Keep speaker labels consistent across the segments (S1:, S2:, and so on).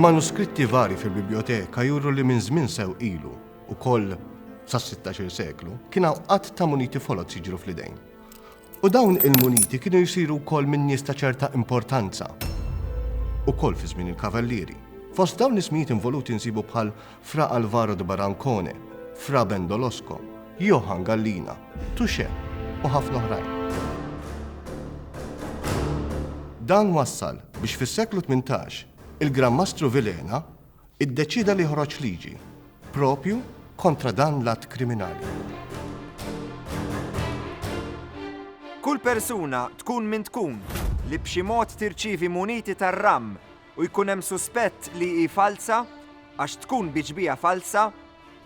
S1: Manuskritti vari fil-biblioteka juru li minn żmien sew ilu u koll sas-16 seklu kien hawn qatt ta' muniti folot jiġru fl-idejn. U dawn il-muniti kienu jisiru wkoll minn nies ta' ċerta importanza. Ukoll fi żmien il-kavallieri. Fost dawn l-ismijiet involuti nsibu bħal Fra Alvaro de Barancone, Fra Ben Dolosco, Johann Gallina, Touché u ħafna oħrajn. Dan wassal biex fis-seklu tmintax il-Gran Mastru Vilhena iddeċieda li joħroġ liġi proprju kontra dan l-att kriminali. Kull persuna tkun min tkun li b'xi mod tirċievi muniti tar-ramm u jkun hemm suspett li hi falza għax tkun bi ġbija falza,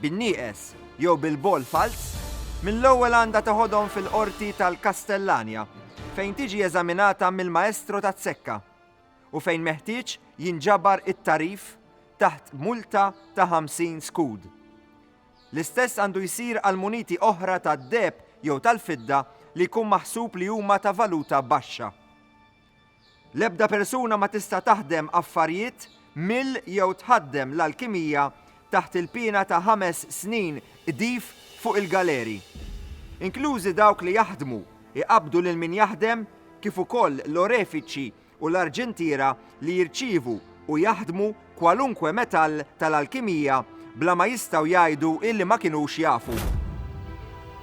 S1: bin-nieqes jew bil-bogħol falz, mill-ewwel għandha teħodhom fil-Qorti tal-Kastellanja fejn tiġi eżaminata mill-Maestro taz-Zekka u fejn meħtieġ jinġabar it-tagħrif taħt multa ta' 50 skud. L-istess għandu jsir għal muniti oħra tad-deheb jew tal-fidda li jkun maħsub li huma ta' valuta baxxa. L-ebda persuna ma tista' taħdem affarijiet mill jew tħaddem l-alkimija taħt il-piena ta' ħames snin qdif fuq il-galeri. Inklużi dawk li jaħdmu, iqabbdu lil min jaħdem kif ukoll l-orefiċi u l-arġentiera li jirċievu u jaħdmu kwalunkwe metall tal-alkimija bla ma jistgħu jgħidu illi ma kinux jafu.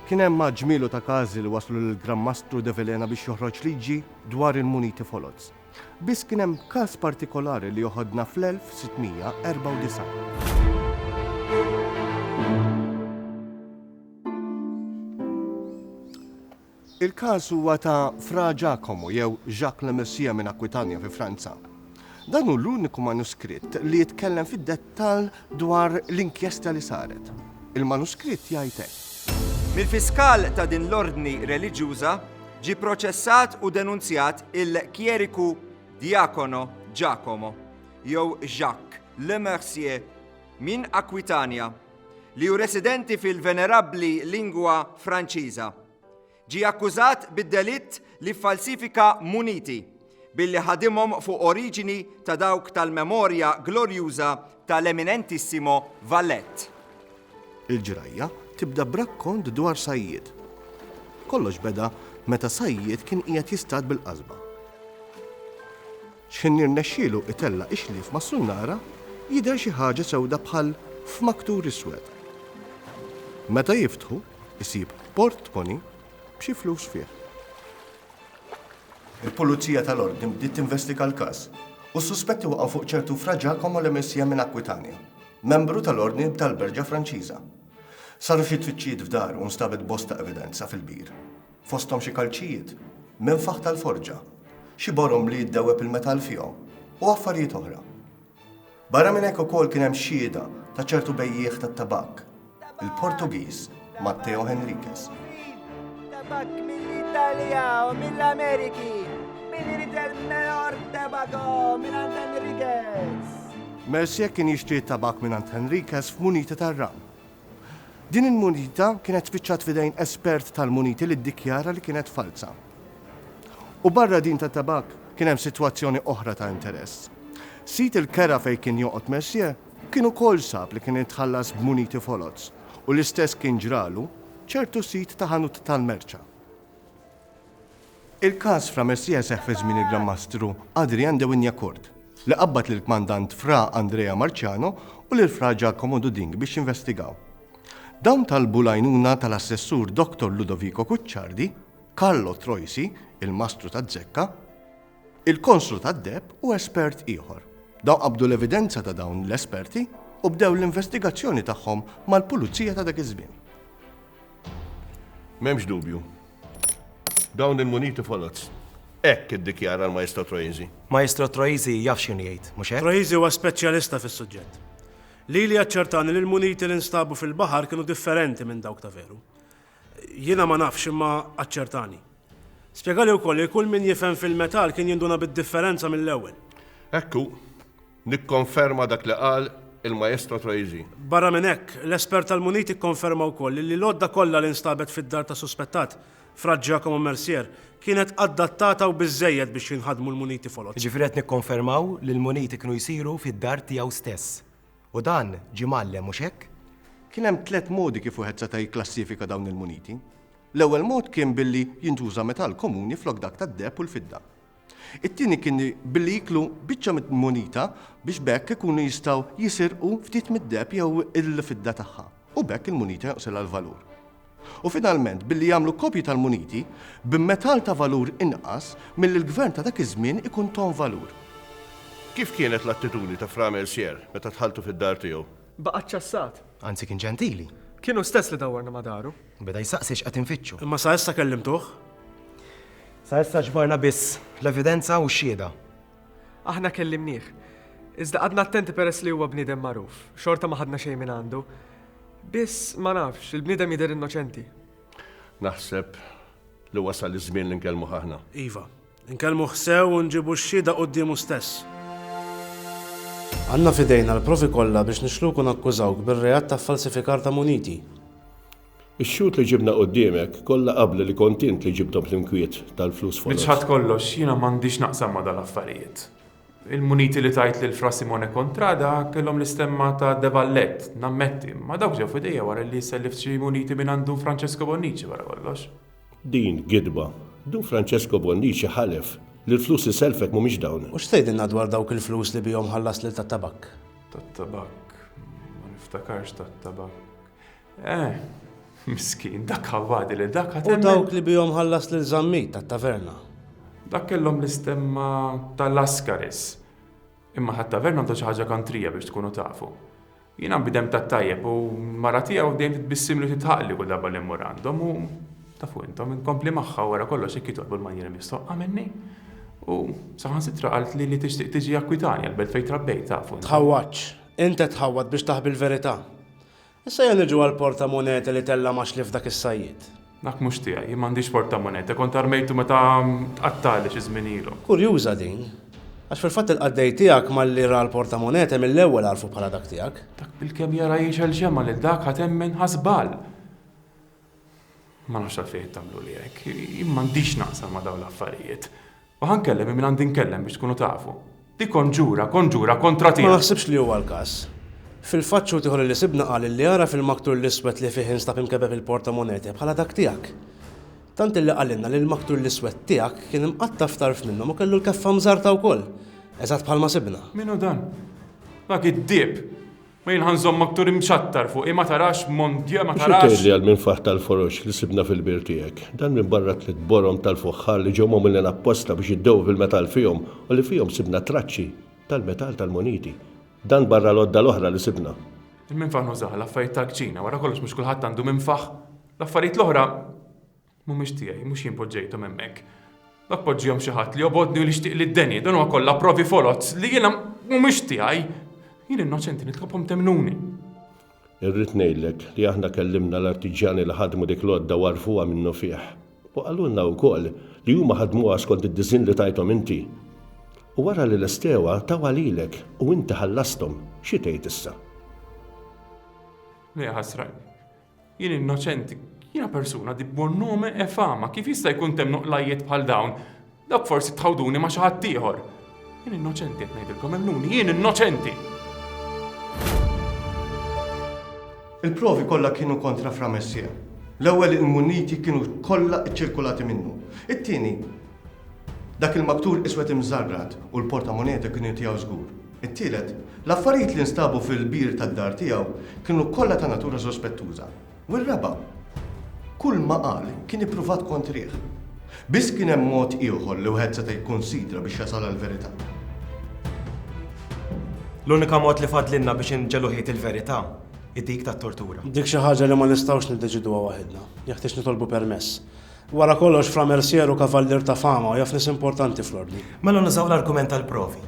S1: Kien hemm għadd ġmielu ta' każi li waslu lill-Gran Mastru de Vilhena biex joħroġ liġi dwar il-muniti foloz. Biss kien hemm każ partikolari li joħodna fl-1694. Il-każ huwa ta' Fra Giacomo jew Jacques le Mercier minn Aquitania fi Franza. Dan hu l-uniku manuskritt li jitkellem fid-dettall dwar l-inkjesta li saret. Il-manuskritt jgħid hekk. Mill-fiskal ta' din l-ordni reliġjuża ġie proċessat u denunzjat il-kjeriku djakono Giacomo jew Jacques le Mercier minn Aquitania, li hu residenti fil-venerabbli lingwa Franċiża, ġie akkużat bid-delitt li ffalsifika muniti billi ħadimhom fuq oriġini ta' dawk tal-memorja glorjuża tal-eminentissimo Vallett. Il-ġrajja tibda b'rakkont dwar sajjied. Kollox beda meta sajjied kien qiegħed jistad bil-qasba. Xħin jirnexxilu itella' ix-xlief mas-sunnara, jidher xi ħaġa sewda bħal f'maktur iswed. Meta jiftħu, isib portmoni b'xi flus fih. Il-Pulizija tal-Ordni bdiet tinvestiga l-każ u s-suspetti waqgħu fuq ċertu Fra Giacomo Lemessia minn Aquitania, membru tal-Ordni tal-Berġa Franċiża. Saru xi tfittxijiet f'daru u nstabet bosta evidenza fil-bir. fosthom xi kalċijiet, menfaħ tal-forġa, xi borom li jiddewweb il-metall fihom u affarijiet oħra. Barra minn hekk ukoll kien hemm xhieda ta' ċertu bejjiegħ tat-tabakk, il-Portugiż Matteo Henriquez. Tabakk mill-Italja u mill-Ameriki, min irid il-mejor tabakko minn Henriquez. Mercier kien jixtri t-tabakk minn Henriquez f'munita tar-ram Din il-munita kienet spiċċat f'idejn espert tal-muniti li ddikjara li kienet falza. U barra din tat-tabakk kien hemm sitwazzjoni oħra ta' interess. Sid il-kera fejn kien joqgħod Mercier kien ukoll sab li kien itħallas b'muniti foloz u l-istess kien ġralu ċertu sid ta' ħanut tal-merċa. Il-każ Fra Messija seħħ fi żmien il-Gran Mastru Adrian de Wignacourt, li qabbad lill-Kmandant Fra Andrea Marciano u lil Fra Giacomo Duding biex jinvestigaw. Dawn talbu l-għajnuna tal-Assessur Doctor Ludovico Cucciardi, Carlo Troisi, il-Mastru taz-Zekka, Il-Konslu tad-deb u espert ieħor. Dawn qabdu l-evidenza ta' dawn l-esperti u bdew l-investigazzjoni tagħhom mal-Pulizija ta' dak iż-żmien. M'hemmx dubju. Dawn il-muniti foloz. Hekk iddikjara l-Maestro Troisi. Maestro Troisi jaf x'kien jgħid, mhux hekk? Troisi huwa speċjalista fis-suġġett. Lili aċċertani li l-muniti li nstabu fil-baħar kienu differenti minn dawk ta' veru. Jiena ma nafx, imma aċċertani. Spjega li wkoll li kull min jifhem fil-metall kien jinduna bid-differenza mill-ewwel. Hekk hu. Nikkonferma dak li qal il-Maestro Troisi. Barra minn hekk, l-espert tal-muniti kkonferma wkoll li l-għodda kollha li nstabet fid-dar tas-suspettat, Fra Giacomo Mercier, kienet addattata u biżżejjed biex jinħadmu l-muniti foloz. Jiġifieri qed nikkonfermaw li l-muniti kienu jsiru fid-dar tiegħu stess. U dan ġie mgħallem, mhux hekk? Kien hemm tliet modi kif wieħed seta' jikklassifika dawn il-muniti. L-ewwel mod kien billi jintuża metall komuni flok dak tad-deheb u l-fidda. It-tieni kien billi jieklu biċċa mill-munita biex b'hekk ikunu jistgħu jisirqu ftit mid-deheb jew il-fidda tagħha. u b'hekk il-munita jonqsilha l-valur. U finalment, billi jagħmlu kopji tal-muniti b'metall ta' valur inqas milli l-gvern ta' dak iż-żmien ikun tahom valur. Kif kienet l-attitudni ta' Fra Mercier meta dħaltu fid-dar tiegħu? Baqa' ċċassat. Anzi kien ġentili. Kien hu stess li dawwarna ma' daru. Beda jsaqsi x'qed infittxu. Imma sa issa kellimtuh? Sa issa ġbarna biss l-evidenza u x-xhieda. Aħna kellimnieh. Iżda qgħadna attenti peress li huwa bniedem magħruf. Xorta ma ħadna xejn minn għandu. Biss, ma nafx, il-bniedem jidher innoċenti. Naħseb li wasal iż-żmien li nkellmuh aħna. Iva. Inkellmuh sew u nġibu x-xhieda quddiemu stess. Għandna f'idejna l-provi kollha biex nixluku nakkużawk bir-reat ta' ffalsifikar ta' muniti. Ix-xhud li ġibna quddiemek kollha qablu li kont int li ġibthom fl-inkwiet tal-flus foloz. Niċħad kollox, jiena m'għandix naqsam ma' dal-affarijiet. Il-muniti li tajt lil Fra Simone Contrada kellhom l-istemma ta' De Valette, nammetti, imma dawk ġew f'idejja wara li sellift xi muniti mingħand Dun Francesco Bonnici wara kollox. Din gidba. Dun Francesco Bonnici ħalef li l-flus li sellfek mhumiex dawn. U x'tgħidilna dwar dawk il-flus li bihom ħallast lil Tat-Tabakk? Tat-Tabakk? Ma niftakarx Tat-Tabakk. Eh, miskin, dak ħawadi li dak U dawk li bihom ħallas lil zammit tat-taverna. Dak kellhom l-istemma tal-Askaris. Imma ħat-taverna għandu xi ħaġa kantrija biex tkunu tafu. Jiena bidem tat-tajjeb u mara tiegħu dejjem titbissim li titħaqli kull darba li mmur għandhom u tafu intom inkompli magħha wara kollox jekk jitolbu l-manjiera mistoqqa minni. U saħansitra qalt li li tixtieq tiġi akkwitani għal-belt fejn trabbejt tafu. Tħawwadx. Inta tħawwad biex taħbi l-verità. Issa ejja niġu għall-portamonete li tella' ma' xlief dak is-sajjied. Dak mhux tiegħi. Jien m'għandix portamonete. Kont armejtu meta tqattgħali xi żmien ilu. Kurjuża din. Għax fil-fatt il-qaddej tiegħek malli ra l-portamonete mill-ewwel għarfu bħala dak tiegħek. Dak bilkemm jara jgħixel xemgħa lil dak ħa temmen ħa żball. Ma nafx għalfejn qed tagħmluli hekk. Jien m'għandix naqsam ma' dawn l-affarijiet. U ħa nkellem minn min għandi nkellem biex tkunu tafu. Di konġura, konġura kontra tiegħek! Ma naħsibx li huwa l-każ. Fil-fatt xhud ieħor li sibna qal li għaraf il-maktur l-iswed li fih instab imkebbeb il-portamonete bħala dak tiegħek. Tant illi qalilna li l-maktur l-iswed tiegħek kien imqatta' f'tarf minnhom u kellu l-keffa mżarrta wkoll, eżatt bħalma sibna. Min hu dan? Dak id-dieb! Ma jien ħa nżommak tur imċattar fuqi ma tarax mon Dieu ma tarax. Xi tgħid li għall-minfaħ tal-foroġ li sibna fil-bir tiegħek, dan minbarra tliet borom tal-fuħħar li ġew magħmulin apposta biex jiddewwu fil-metall fihom u li fihom sibna traċċi tal-metall tal-muniti, dan barra l-għodda l-oħra li sibna? Il-minfaħ nużah għal affarijiet tal-kċina, wara kollox mhux kulħadd għandu minfaħ. L-affarijiet l-oħra. Mhumiex tiegħi, mhux jien poġġejthom hemmhekk. Ma poġġihomx xi ħadd li jobgħodni u li jixtieq li ddeni, dan huwa kollha provi foloz li jiena mhumiex tiegħi. Jien innoċenti, nitlobkom temmnuni. Irrid ngħidlek li aħna kellimna l-artiġjani li ħadmu dik l-għodda u għarfuha minnufih u qalulna wkoll li huma ħadmuha skont id-disinn li tajthom inti. U wara li lestewha tawha lilek u inti ħallasthom, xi tgħid issa? Le, ħasra. Jien innoċenti, jiena persuna di buon nome e fama, kif jista' jkun temm nuqqlajiet bħal dawn? Dawk forsi tħawduni ma' xi ħadd ieħor. Jien innoċenti qed ngħidilkom emmnuni, jien innoċenti! Il-provi kollha kienu kontra Fra Messier. L-ewwel il-munniti kienu kollha ċċirkulati minnu. It-tieni, dak il-maktur iswed imżarrad u l-portamoneta kienu tiegħu żgur. It-tielet, l-affarijiet li nstabu fil-bir tad-dar tiegħu kienu kollha ta' natura sospettuża. U r-raba', kull ma qal kien ippruvat kontrih. Biss kien hemm mod ieħor li wieħed seta' jikkunsidra biex jasal għall-verità. L-unika mod li fadlilna biex inġegħlu ħiet il-verità hi dik tat-tortura. Dik xi ħaġa li ma nistgħux niddeċiduha waħidna. Jeħtieġ nitolbu permess. Wara kollox, Fra Mercier hu kavallier ta' fama u jaf nies importanti fl-Ordni. Mela nużaw l-argument tal-provi,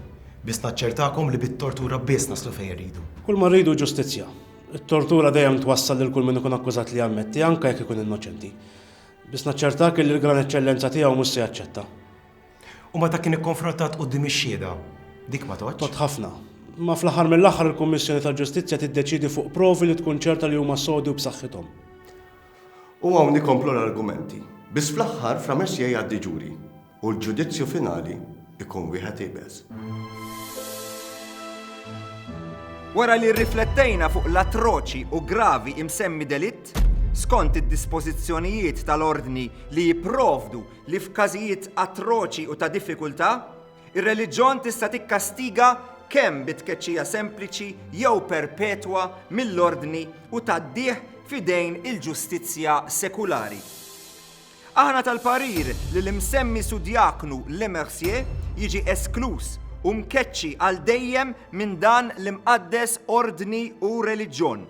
S1: biss naċċertakom li bit-tortura biss naslu fejn irridu. Kull ma rridu hu ġustizzja. It-tortura dejjem twassal lil kull min ikun akkużat li jammetti, anke jekk ikun innoċenti. Biss naċċertak illi l-Gran Eċċellenza Tiegħu mhux se jaċċetta. U meta kien ikkonfrontat quddiem ix-Xhieda, dik ma tgħoddx? Tgħodd ħafna. Imma fl-aħħar mill-aħħar il-Kummissjoni tal-Ġustizzja tiddeċiedi fuq provi li tkun ċerta li huma sodi u b'saħħithom. U hawn ikomplu l-argumenti. Biss fl-aħħar f'Lamezia jgħaddi ġuri u l-ġudizzju finali jkun wieħed iebes. Wara li rriflettejna fuq l-atroċi u gravi imsemmi delitt, skont id-dispożizzjonijiet tal-Ordni li jipprovdu li f'każijiet atroċi u ta' diffikultà, Ir-reliġjon tista' tikkastiga kemm bi tkeċċija sempliċi jew perpetwa mill-ordni u tgħaddih f'idejn il-ġustizzja sekulari. Aħna tal-parir li l-imsemmi sudjaknu Lemercier jiġi eskluż u mkeċċi għal dejjem minn dan l-imqaddes ordni u reliġjon.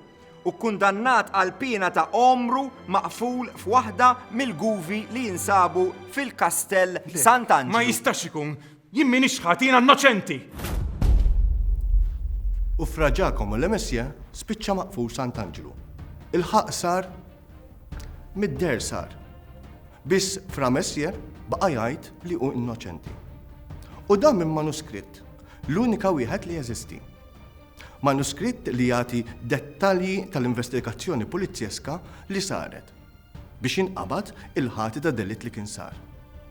S1: u kkundannat għal piena ta' għomru maqful f'waħda mill-guvi li jinsabu fil-Kastell Sant'Anġlu. Ma jistax ikun! Jien m'iniex ħadd, jiena innoċenti! U Fra Ġakomo Le Messie spiċċa maqful Sant'Anġlu. Il-ħaqq sar mid-deher sar. Biss Fra Messie baqa' jgħid li hu innoċenti. U dan minn manuskritt, l-unika wieħed li jeżisti. Manuskritt li jagħti dettalji tal-investigazzjoni pulizjeska li saret biex jinqabad il-ħati ta' delitt li kien sar.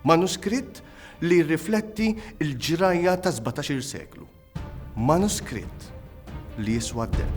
S1: Manuskritt li jirrifletti l-ġrajja tas-sbatax-il seklu. Manuskritt li jiswa deheb.